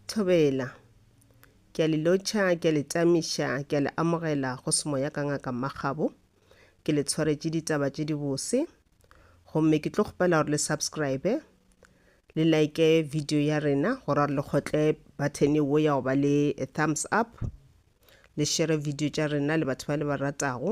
Thobela. Ke a le lotšha, ke a le tamiša, ke a le amogela go semoya ka ngaka Makgabo. Ke le tshwaretše ditaba tše dibose. Gomme ke tlo kgopela gore le subscribe, le like video ya rena gore gore le kgotle button wo ya go ba le thumbs up, le share video tša rena le batho ba le ba ratago.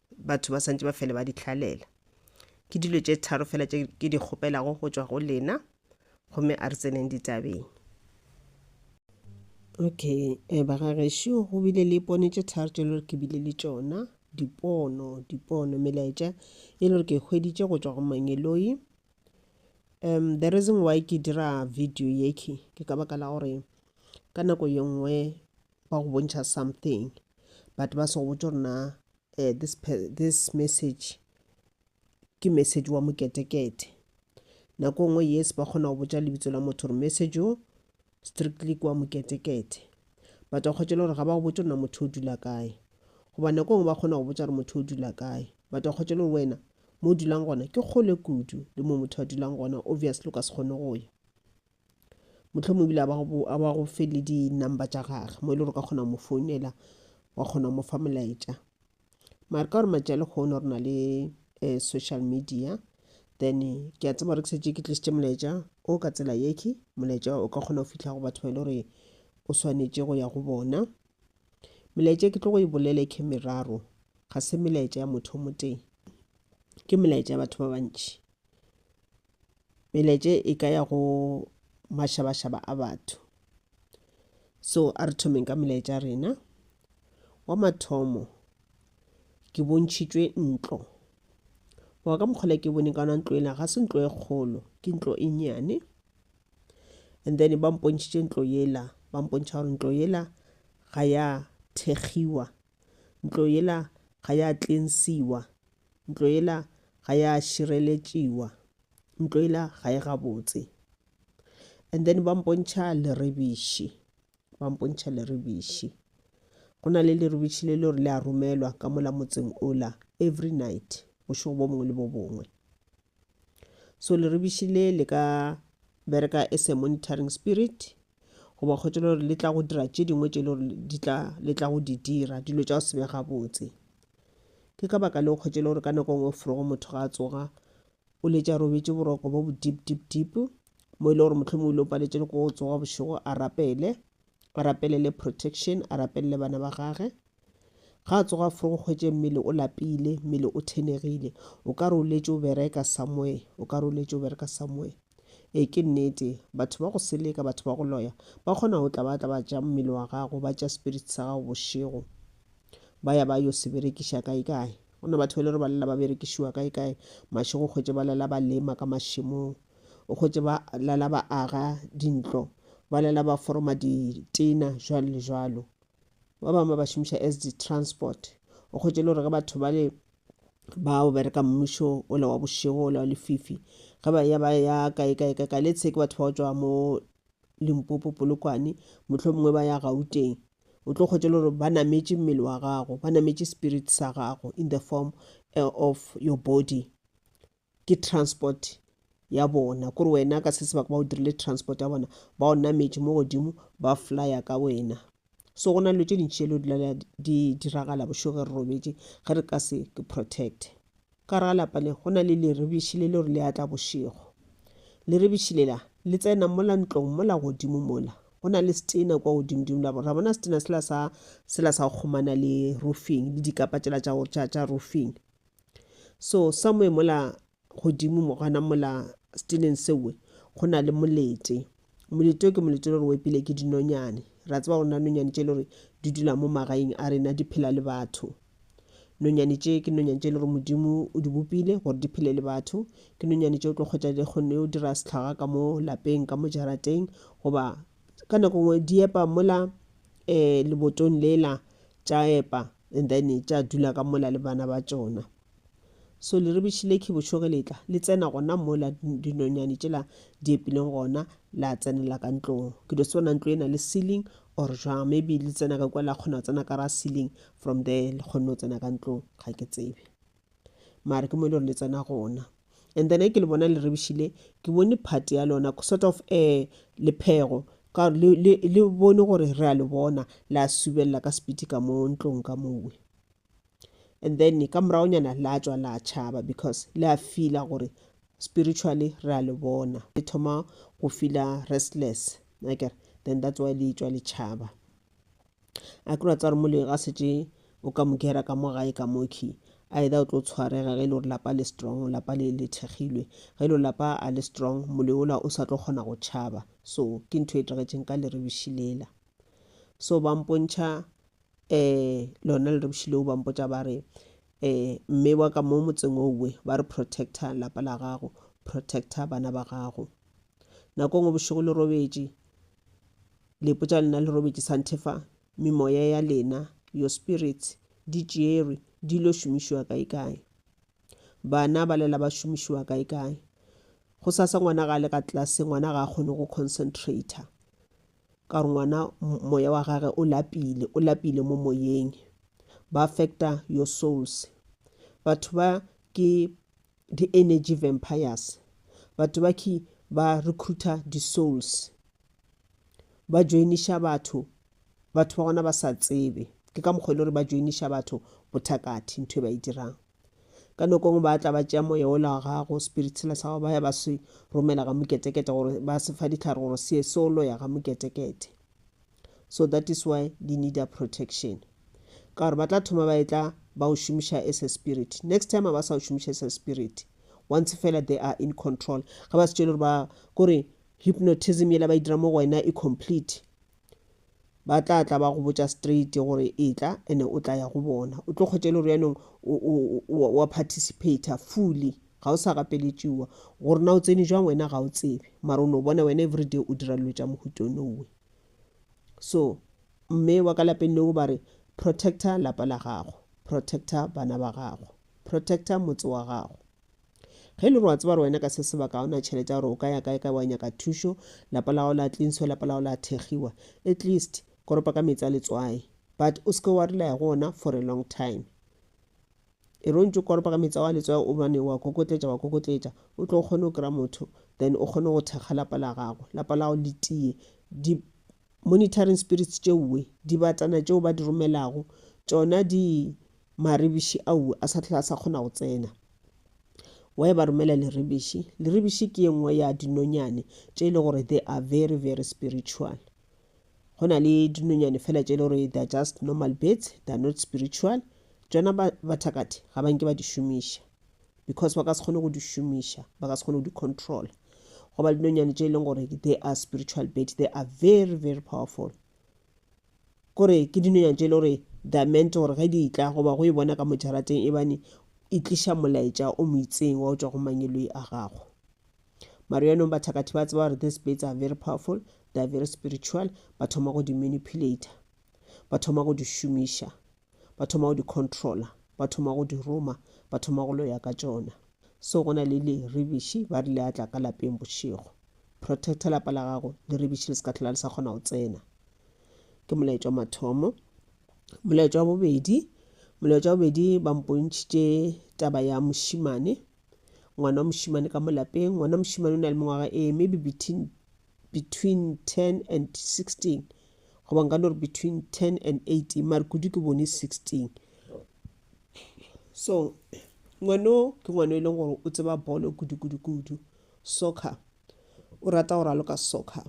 batho ba santse ba fele ba di hlalela ke dilo tše tharo fela tše ke di kgopelago go tšwa go lena gomme a re tseneng ditabeng okay um bagagešu go bile le pone tše tharo tše le gore ke bile le tšona dipono dipono melaetša e le gore ke hweditše go tšwa go mangeloi um the reason why ke dira video yeke ke ka baka la gore ka nako ye nngwe ba go bontšha something but ba se go botse gore na eh, this, this message ke message wa moketekete nako nngwe yes ba kgona go botsa lebitso la motho gore message o strictly kwa moketekete but wa kgotšele gore ga ba go botse gore na motho o dula kae goba nako nngwe ba kgona go botsa gore motho o dula kae but wa kgotšele gore wena mo o dulang gona ke kgole kudu le mo motho a dulang gona obviously o ka se kgone go ya mohlomong ebile a ba go fe le di-number tša gage mo e le gore ka kgona go mo founela wa kgona go mo fa molaetša mare ka gore matša lekgono re na le um social media then ke a tseba gore ke setse ke tlisitše molaetša o ka tsela yeke molaetša o ka kgona go fitlha go batho ba e le gore o swanetše go ya go bona melaetša ke tlo go e bolele ke meraro ga se melaetša ya motho o motee ke melaetša ya batho ba bantši meletše e ka ya go mašabašaba a batho so a re thomeng ka melaetša rena wa mathomo ke bontšhitšwe ntlo wa ka mokgole ke bone ka ona ntlo ena ga se ntlo e kgolo ke ntlo e nyane and then ba mpontšhitše ntlo yela ba mpontšha gore ntlo yela ga ya thekgiwa ntlo yela ga ya tlensiwa Ntlo yela ga ya šireletšiwa. Ntlo yela ga e gabotse. And then ba mpontšha lerebiši. Ba mpontšha lerebiši. Go na le lerebiši le lore le a romelwa ka mola motseng ola every night, bošego bo bongwe le bo bongwe. So lerebiši le le ka bereka as a monitoring spirit goba kgotsa le gore le tla go dira tše dingwe tše le gore di tla le tla go di dira dilo tša go se be gabotse ke ka baka leo kgotsa le gore ka nako e nngwe forogo motho ga a tsoga o letša robetse boroko bo bo deep deep deep mo e le gore motlhomo o ile o paletše le ko go tsoga bošego a rapele a rapelele protection a rapelele bana ba gage Ga a tsoga fo go hwetše mmele o lapile, mmele o thenegile. O ka re o letše o bereka somewhere, o ka re o letše o bereka somewhere. Ee, ke nnete, batho ba go seleka, batho ba go loya, ba kgona go tla ba tla ba tša mmele wa gago, ba tša spirit sa gago bošego, ba ya ba yo se berekiša kae kae. Go na batho ba e le gore ba lela ba berekišiwa kae kae, mašego o hwetše ba lela ba lema ka mašemong, o hwetše ba lela ba aga dintlo, ba lela ba foroma ditena, jwalo le jwalo. ba bangwe ba ba šomiša as di-transport o kgwetše le gore ge batho bale ba o bereka mmušo o le wa bošego o le wa lefifi ge ba ya ba ya kae kae ka kae letshe ke batho ba go tšwa mo limpopo polokwane motlho mongwe ba ya gauteng o tlo kgwetše le gore ba nametše mmele wa gago ba nametše spirit sa gago in the form eh, of your body ke transport ya bona kore wena ka se sebaka ba o dirile transport ya bona ba o nametše mo godimo ba flya ka wena so go na dilo tše dintši tšelo dila di diragala bošoge re robetše ge re ka se ke protect ka re ga lapa le go na le lerebiši le le gore le atla bošego lerebiši lela le tsena mola ntlong mola godimo mola go na le setena kwa godimodimo la ra bona setena sela sa sela sa go kgomana le roofing le dikapa tšela tša tša roofing so somewhere mola godimo mogana mola stileng sewe go na le molete molete o ke molete le gore o epile ke dinonyane ra tseba gore na nonyane tše le gore di dula mo magaeng a rena di phela le batho nonyane tše ke nonyane tše le gore modimo o di bopile gore di phele le batho ke nonyane tše o tlo kgwetsa di kgonne o dira setlhaga ka mo lapeng ka mo jarateng goba ka nako nngwe di epa mola um lebotong lela tša epa and then tša dula ka mola le bana ba tšona so leribiši le ke bošoge letla le tsena gona mola dinonyane tšela di epileng gona la tsenela ka ntlong ke do sebona ntlo ena le ceiling or jwang maybe le tsena ka kwa la kgona go tsena ka ra ceiling from there le kgonne go tsena ka ntlong ga ke tsebe mare ke mo e le gore le tsena gona and then ke le bona le rebešile ke bone part ya lona sort of um lephego ka le bone gore re a le bona la subelela ka sepiti ka mo ntlong ka mowe and then ka moragonyana la tswa la tšhaba because le a feela gore spiritually re a le bona le thoma go feela restless nakere then that's why le tswa le tšhaba a ke ra tswa re mo le ga setse o ka mo gera ka mo gae ka mokhi either o tlo tshwarega ge e le gore lapa le strong lapa le le thekgilwe ge e le lapa a le strong moleola o sa tlo kgona go tšhaba so ke ntho e tlagetšeng ka lerebiši lela so ba mpontšha um lona lerebiši leo ba mpotša ba re um mme wa ka mo motseng owe ba re protector lapa la gago protector bana ba gago nako ngwe bošego le robetše Le ipotša lena le robetše santhefang, memoya ya lena, your spirits, di tšeerwe, di ilo šomišiwa kaekae? Bana ba lela ba šomišiwa kaekae? Gosasa ngwana ga a le ka tlase, ngwana ga a kgone go concentrata, ka gore ngwana moya wa gage o lapile, o lapile mo moyeng. Ba affecta your souls. Batho ba ke Di energy vampires. Batho ba ki ba recruiter di souls. Ba joiniša batho, batho ba gona ba sa tsebe. Ke ka mokgwa e le gore ba joiniša batho bothakathi ntho e ba e dirang. Ka noko ngwe ba tla ba tšea moya ola wa gago, spirit sela sa gago, ba ya ba se romela ga Muketekete gore ba se fa ditlhare gore se ye solo ya ga Muketekete. so that is why di needa protection ka gore ba tla thoma ba etla ba o šomiša as a spirit next time a ba sa o šomiša as a spirit once fela they are in control ga ba se tšele gore ba kore hypnotism yela ba e dira mo go wena e complete ba tla tla ba go botša straight gore e tla ene o tla ya go bona o tlo kgwetša e le gore yanong wa participata fully Ga o sa gapeletšiwa. Gore na o tsene jwang wena ga o tsebe. Mara o no bona wena everyday o dira dilo tša mohuta o nowe. So, mme wa ka lapeng leo ba re, Protector lapa la gago. Protector bana ba gago. Protector motse wa gago. Ge e le gore wa tseba gore wena ka se sebaka ga o na tšhelete ya gore o ka ya kae-kae wa nyaka thušo, lapa la gago la tlinswa, lapa la gago la thegiwa, at least koropa ka meetse a letswai. But o se ke wa rely go ona for a long time. E re o ntše o koropa ka metsi ao a letswai o bane wa kokotletša wa kokotletša, o tlo o kgone go kry-a motho then o kgone go thekga lapa la gago, lapa la gago le tiye. Di monitoring spirits tšeoe, dibatana tšeo ba di romelago, tšona di marebiši aoe a sa hlole a sa kgona go tsena. Why ba romela lerebiši? Lerebiši ke e nngwe ya dinonyane tše e le gore they are very very spiritual. go na le dinonyane fela tše le gore they're just normal birds they're not spiritual tšona bathakati ga ba nke ba di šomiša because ba ka se kgone go di šomiša ba ka se kgone go di control goba dinonyane tše e leng gore they are spiritual bird they are very very powerful kore ke dinonyane tše e le gore the mente gore ge di tla goba go e bona ka mojarateng e bane e tliša molaetša o mo itseng wa go tšwa go mangeloi a gago Mara yaanong bathakathi ba tseba gore these baits are very powerful, they are very spiritual, ba thoma go di manipulator, ba thoma go di šomiša, ba thoma go di controller, ba thoma go di roma, ba thoma go loya ka tšona. So go na le leribiši ba rile a tla ka lapeng bošego. Protector lapa la gago, leribiši le se ka tlhola le sa kgona go tsena. Ke molaetšwa mathomo. Molaetšwa wa bobedi, molaetšwa wa bobedi ba mpontšhitše taba ya mošimane ngwana wa mošimane ka mo lapeng ngwana wa mošimane o na le mengwaga e maybe between, between 10 and 16 goba nka no re between 10 and 18 mare kudu ke bone 16 so ngwano ke ngwano e leng gore o tseba bolo kudu-kudu-kudu soccer o rata go raloka soccer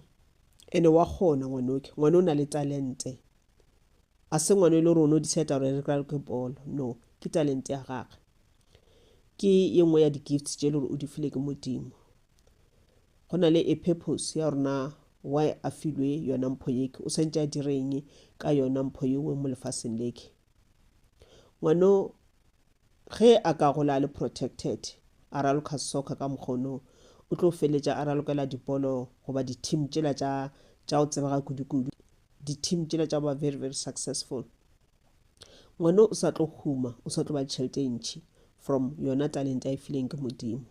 ene wa kgona ngwanoke ngwana o na le talente a se ngwana e le gore o no decide gore re raloke bolo no ke talente ya gagwe ke ye nngwe ya di-gifts tše e le gore o di file ke modimo go na le a purpose ya rona why a filwe yona mpho yeke o swantse a direng ka yona mpho yewe mo lefaseng leke ngwano ge a ka gola a le protected a raloka soccer ka mokgono o tlo feletša a ralokela dipolo goba di-team tšela tša tša go tsebega kudu-kudu di-team tšela tša ba very very successful ngwana o sa tlo huma o sa tlo ba tšhelete e ntšhi from yona talent a e fileng ke modimo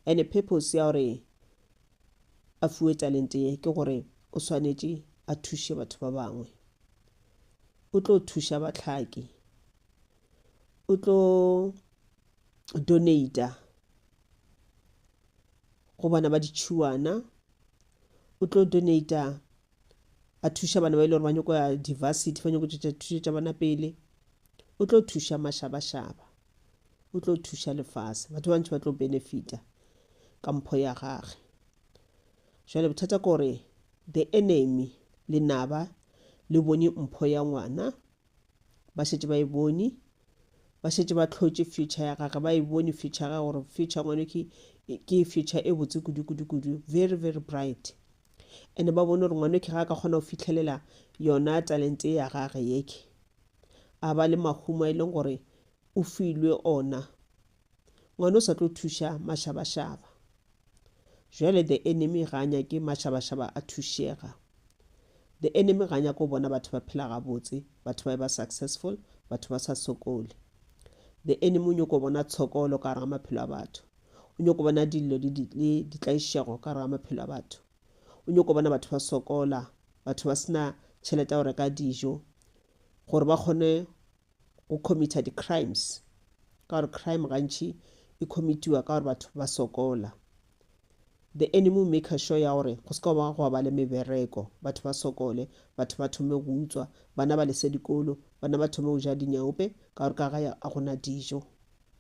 and purpose ya gore a fuwe talent ye ke gore o swanetše a thuše batho ba bangwe o tlo thuša batlhaki o tlo donata go bana ba ditšhuwana o tlo donata a thuša bana ba e le gore ba nyoko ya diversity ba nyoko tšwetša thušo tša bona pele o tlo thuša mašabašaba o tlo thuša lefase batho ba bantši ba tlo benefita ka mpho ya gage jale bothata ke gore the enemy le naba le bone mpho ya ngwana ba šetše ba e bone ba šetše ba tlhotše future ya gage ba e bone future ya gage gore future ngwane ke future e botse kudu kudu kudu very very bright Ene ba bone gore ngwanoke ga a ka kgona go fitlhelela yona talente ya gage yeke. A ba le mahumo a e leng gore o filwe ona. Ngwana o sa tlo thuša mašabašaba. Jwale the enemy ga a nyake mašabašaba a thušega. The enemy ga a nyake go bona batho ba phela gabotse, batho ba e ba successful, batho ba sa sokole. The enemy o nyoko bona tshokolo ka gare ga maphelo a batho. o nyoko bona dillo le ditlaišego ka gare ga maphelo a batho o nyoko bona batho ba sokola batho ba sena tšhelete ya go reka dijo gore ba kgone go committa di-crimes ka gore crime gantši e commitiwa ka gore batho ba sokola the enemy will make sure ya gore go seka ba go ba le mebereko batho ba sokole batho ba thome go utswa bana ba lese dikolo bana ba thome go ja dinyaope ka gore ka ga a gona dijo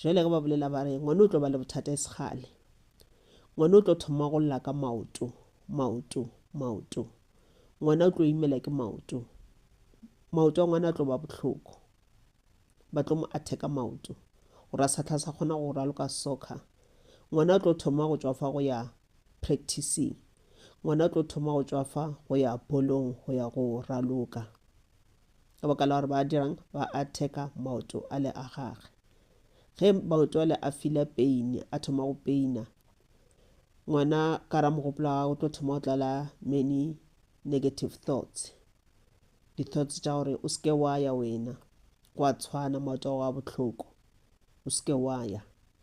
Jale ge ba bolela ba re ngwana o tlo ba le bothata e segale. Ngwana o tlo thoma go lla ka maoto, maoto, maoto. Ngwana o tlo imela ke maoto. Maoto a ngwana a tlo ba bohloko. Ba tlo mo atheka maoto. Gore a sa tlha sa kgona go raloka soccer. Ngwana o tlo thoma go tswa fa go ya practicing. Ngwana o tlo thoma go tswa fa go ya bolong go ya go raloka. ka baka la gore ba dirang ba atheka maoto a le a gage ge maoto a le a fila peine a thoma go peina ngwana ka ra mogopolo wa gagwe tlo thoma go tlala many negative thoughts di-thoughts tša gore o seke wa ya wena kwa tshwana maoto a bohloko o seke wa ya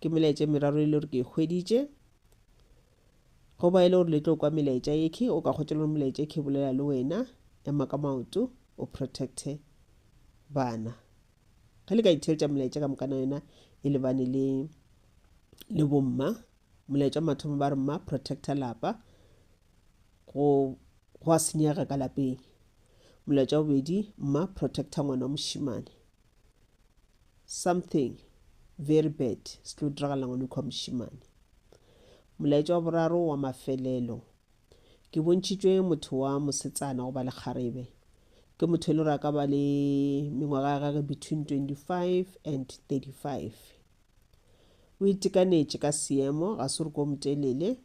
ke melaetša e meraro e le gore ke e hweditše go ba e le gore le tlo kwa melaetša ekhe o ka kgotsa le gore melaetša ekhe bolela le wena ema ka maoto o protecte bana ge le ka itheletša melaetša ka mokana yona e lebane le le bomma molaetša mathomo ba re mma protecta lapa go go a senyega ka lapeng molaetša bobedi mma protecta ngwana wa mošimane something very bad se tlo diragala ngwane kua mošimane molaetša wa boraro wa mafelelo ke bontšhitšwe motho wa mosetsana go ba le kgarebe ke motho e le gore a ka ba le mengwaga ya gage between 25 and 35 o itekanetše ka seemo ga se gore ko motelele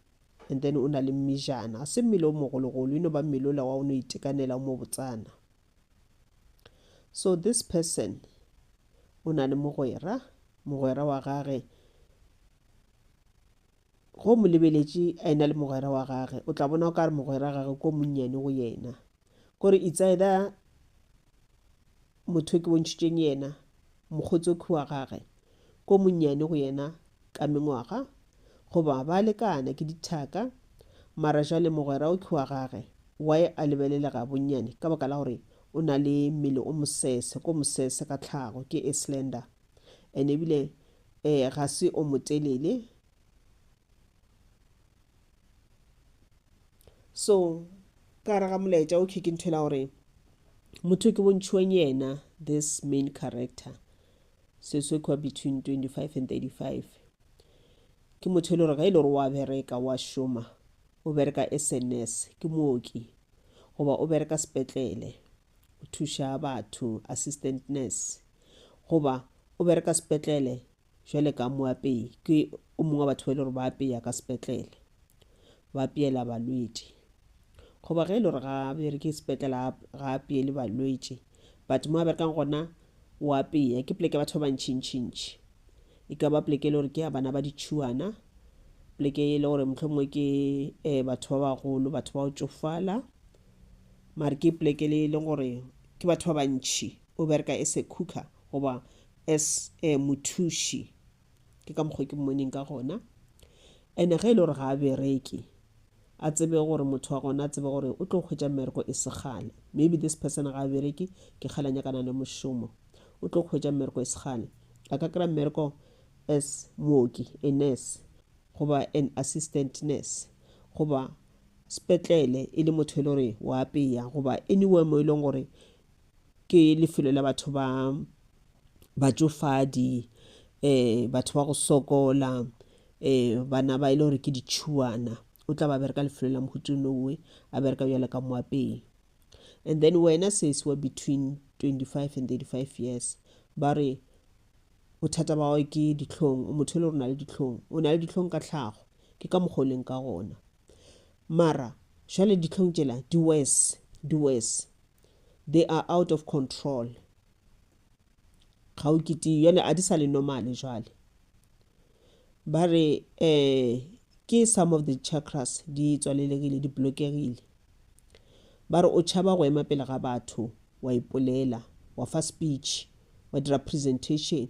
and then o na le mmejana ga se mmele o mogologolo e no ba mmele ola wa o no itekanela o mo botsana So this person o na le mogwera, mogwera wa gage go mo lebeletše a ena le mogwera wa gage o tla bona o ka re mogwera gage ko monnyane go yena kore it's either motho ke bontšhitšeng yena mokgotsi o khiwa gage ko monnyane go yena ka mengwaga, goba ba lekana ke dithaka, mara jale mogwera o k'wa gage, y a lebelele ga bonnyane ka baka la gore o na le mmele o mosese, ko mosese ka tlhago, ke e slender, and ebile e ga se o motelele. So ka gare ga molaetša o khe ke ntho ela gore motho ke bontšhiweng yena, this main character, se sekwa between 25 and 35 ke motho e le gore ga e le gore wa bereka wa šoma o bereka as a nurse ke mooki goba o bereka sepetlele o thuša batho assistant nurse goba o bereka sepetlele jwale ka moapei ke o mongwe wa batho ba e le gore ba apeya ka sepetlele ba apeela balwetši goba ge e le gore ga bereke sepetlele ga apeele balwetši but mo a berekang gona o apeya ke pleke batho ba bantšhintšhintši e ka ba pleke e le gore ke ya bana ba ditšhuana pleke e le gore motlho mongwe ke um batho ba bagolo batho ba go tsofala mare ke pleke le e leng gore ke batho ba bantšhi o bereka as a cooker goba as um mothuši ke ka mokgwa ke mmoneng ka gona ene ge e le gore ga a bereke a tsebe gore motho wa gona a tsebe gore o tlo kgwetsa mmereko e segale maybe this person ga a bereke ke kgale nyakana le mošomo o tlo kgwetsa mmereko e segale a ka kry-a mmereko as mooki a nurse goba an assistant nurse goba sepetlele e le motho e le gore wa apeya goba anywhere mo e leng gore ke lefelo la batho ba batšofadi um batho ba go sokola um bana ba e le gore ke ditšhuana o tla ba bereka lefelo la mohutu nowe a bereka bjalo ka moapei and then wena sesi wa between 25 and 35 years ba re bothata ba gago ke ditlhong o motho e le gore o na le ditlhong o na le ditlhong ka tlhago ke ka mokgwa o leng ka gona Mara jwale dihlong tšela di worse, di worse. They are out of control. Ga o ketiwe, jwale ga di sa le normal jwale. Ba re um ke some of the chakras di tswalelegile, di blokegile. Ba re o tšhaba go ema pele ga batho, wa ipolela, wa fa speech, wa dira presentation.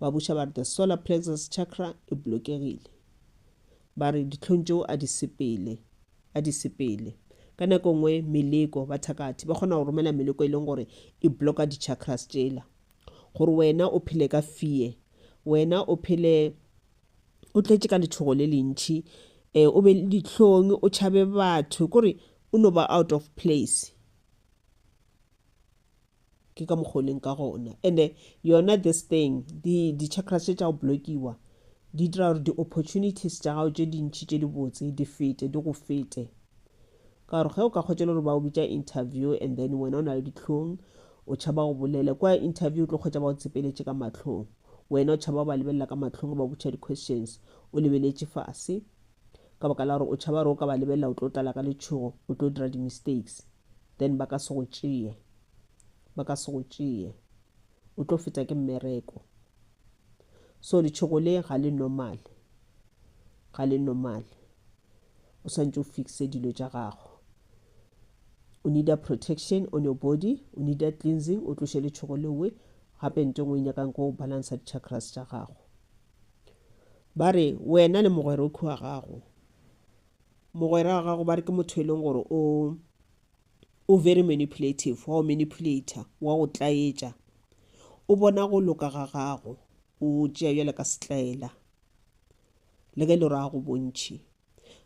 Ba buša ba re the solar plexus chakra e blokegile. Ba re ditlhong tšeo a di sepele, a di sepele. Ka nako nngwe meleko, bathakathi ba kgona go romela meleko e leng gore e bloka di-chakras tšela. Gore wena o phele ka fear, wena o phele o tletše ka letšhogo le lentšhi, um o be le dihlong, o tšhabe batho, kore o no ba out of place. ke ka mokgwa o leng ka gona ande yona this thing di-chakras tše tša go blockiwa di dira gore di-opportunities tša gago tše dintšhi tše dibotse di fete di go fete ka gore ge o ka kgotšele gore ba o bitša interview and then wena o na le ditlhong o tšhaba go bolele kwa interview o tlo kgotša ba go tsepeletše ka matlhong wena o tšhaba ba lebelela ka matlhong ba botšha di-questions o lebeletše fase ka baka la gore o tšhaba gore o ka ba lebelela o tlo tlala ka letšhogo o tlo dira di-mistakes then ba ka se go tšee ba ka se go tšee o tlo feta ke mmereko so letšhogo le ga le normal ga le normal o swantse o fixe dilo tša gago o needa protection on your body o needa cleansing o tloše letšhogo lewe gape nto engwe e nyakang ko balansa di-chakras tša gago ba re wena le mogwerokhi wa gago mogwera wa gago ba re ke motho e leng gore o o very manipulative wa o manipulator wa go tlaetša o bona go loka ga gago o tšea bjale ka setlaela le ge e le gore a go bontšhi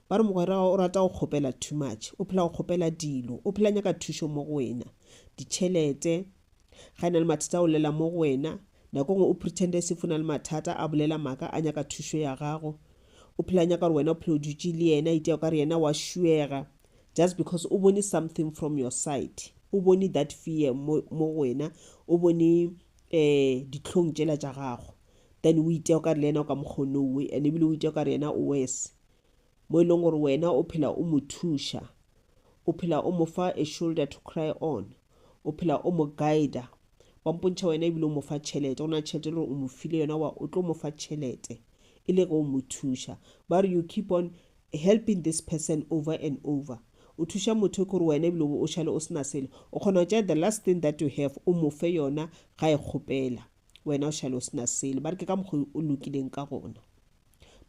ba re mogwera o rata go kgopela too much o phela go kgopela dilo o phela nyaka thušo mo go wena ditšhelete Ga e na le mathata o llela mo go wena. Nako ngwe o pretenda as if o na le mathata, a bolela maka, a nyaka thušo ya gago. O phela a nyaka gore wena o phela o dutše le yena, itea o ka re yena wa šuega. Just because o bone something from your side. O bone that fear mo go wena, o bone dihlong tšela tša gago. Then o itea o ka re le yena o ka mokgwa o ne o we, and ebile o itea o ka re yena o worse. Mo e leng gore wena o phela o mo thuša, o phela o mo fa a shoulder to cry on. o phela o mo guida wa mpontšha wena ebile o mo fa tšhelete go na tšhelete le gore o mo file yona wa o tlo mo fa tšhelete e le ge o mo thuša ba re you keep on helping this person over and over o thuša motho ke gore wena ebile o šale o sena selo o kgona go tšea the last thing that you have o mo fe yona ga e kgopela wena o šale o sena selo ba re ke ka mokgwa o lokileng ka gona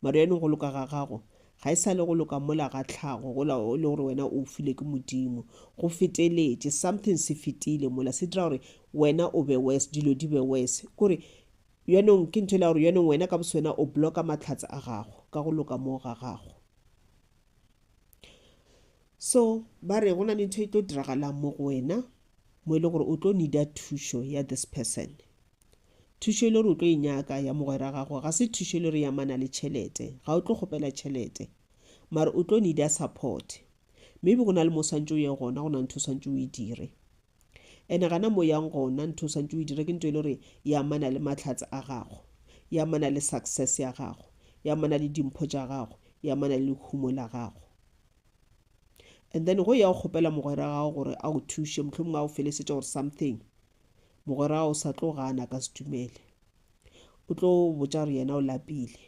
Maruyane go loka ga gago ga e sa le go loka mola ga tlhago gola e le gore wena o file ke modimo go feteletše something se fetile mola se dira gore wena o be worse dilo di be worse kore yonong ke ntho e la gore yonong wena ka boswena o blocka matlhatse a gago ka go loka moo ga gago so ba re go na le ntho e tlo diragalang mo go wena mo e le gore o tlo nida thušo ya this person Thušo e le gore o tlo e nyaka ya mogwera gago ga se thušo e le gore ya mana le tšhelete. Ga o tlo kgopela tšhelete. Mare o tlo nida support. Maybe go na le mo swantše o ye gona, go na ntho swantše o e dire. Ene gana mo yang gona, ntho swantše o e dire ke ntho e le gore ya mana le mahlatse a gago, ya mana le success ya gago, ya mana le dimpho tša gago, ya mana le lehumo la gago. And then go ya go kgopela mogwera gago gore a o thuše, mohlomongwe a o felesetše or something. mogwera o sa tlo gana ka se dumele o tlo botša gore yena o lapile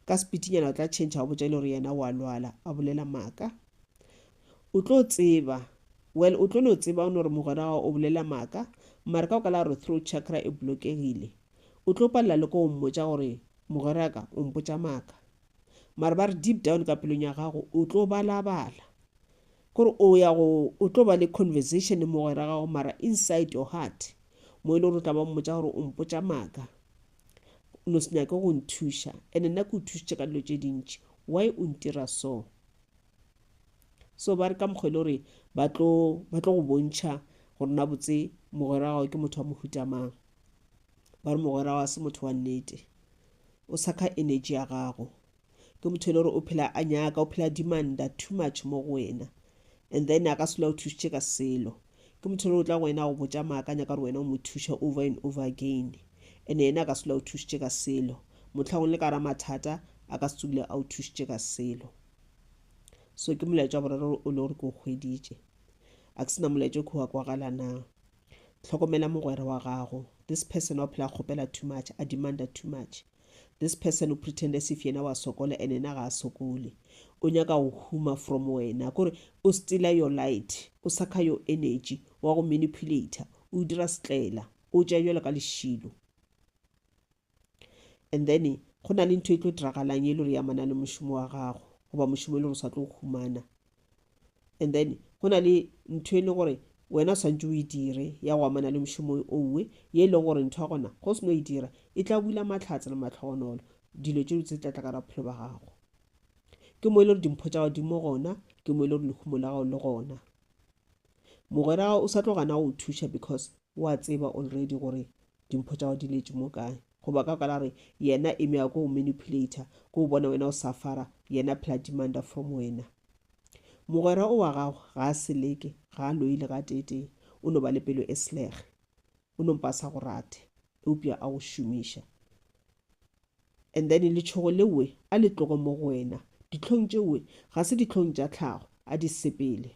ka sepitinyana o tla change a botša ile gore yena wa lwala a bolela maaka o tlo tseba well o tlo no tseba o no gore mogwera gago o bolela maaka mare ka o ka la gore throat chakra e blokegile o tlo palela le ko o mmotša gore mogweraka o mpotša maaka mare ba re deep down ka pelong ya gago o tlo balabala Kore o ya go o tlo ba le conversation le mogwera gago mara inside your heart mo e le gore o tla ba mmotša gore o mpotša maaka no se nyake go nthuša and nna ke o thušitše ka dilo tše dintši why o ntira so so ba re ka mokgwa e le gore ba tlo ba tlo go bontšha gore na botse mogwera gago ke motho wa mohuta mang ba re mogwera wa se motho wa nnete o sakha energy ya gago ke motho e le gore o phela a nyaka o phela dimanda too much mo go wena and then a ka sela o thušitše ka selo ke motho e le gore o tla go wena go botša maaka a nyaka gore wena o mo thuše over and over again and yena a ka sela o thušitše ka selo motlhagong le ka ra mathata a ka se tsogile a o thušitše ka selo so ke molaetša wa boraro o le gore ke o kgweditše a ke sena molaetša o khuwa kwagala na tlhokomela mogwera wa gago this person wa phela kgopela too much a demanda too much This person o pretend as if yena wa sokola and yena ga a sokole. O nyaka go huma from wena, kore o stealer your light, o sakha your energy, wa go manipulator, o o dira setlela, o o tšea bjalo ka lešilo. And then go na le ntho e tlo diragalang e le gore e amana le mošomo wa gago, goba mošomo e le gore o sa tlo o humana. and then go na le ntho e le gore wena swantse o e dire ya go amana le mošomo o nngwe ye e leng gore ntho ya gona go se no e dira e tla bula matlhatse le matlhogonolo dilo tše tse tlatla ka ra bophelo ba gago ke mo e le gore dimpho tša godimo gona ke mo e le gore lehumo la gago le gona mogwera o sa tlo gana go thuša because wa tseba already gore dimpho tša go di letše mo kae goba ka kwala re yena eme ya ko go manipulator ko o bona wena o safara yena phela demanda from wena mogwera o wa gago ga a seleke ga a loile ga tetee o no ba le pelo e selege o nompa sa go rate eupša a go šomiša and then letšhogo lewe a le tlogo mo go wena ditlhong tšewe ga se ditlhong tša tlhago a di sepele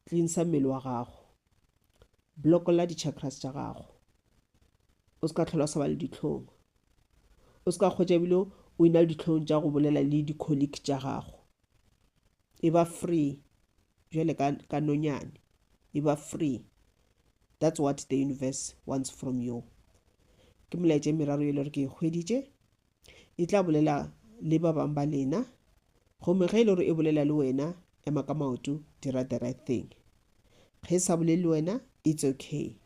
tlinsa mmele wa gago blokolla di-chakras tša gago o se ka tlhola o sa ba le ditlhong o se ka kgwetša ebile o ina le ditlhong tša go bolela le di-colleague tša gago e ba free jale ka, ka nonyane e ba free that's what the universe wants from you ke molaetša meraro e le gore ke e hweditše E tla bolela le ba bang ba lena. Gomme ge e le gore e bolela le wena, ema ka maoto, dira the right thing. Ge e sa bolele le wena, it's okay.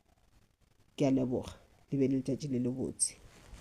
Ke a leboga. Le be le letšatši le lebotse.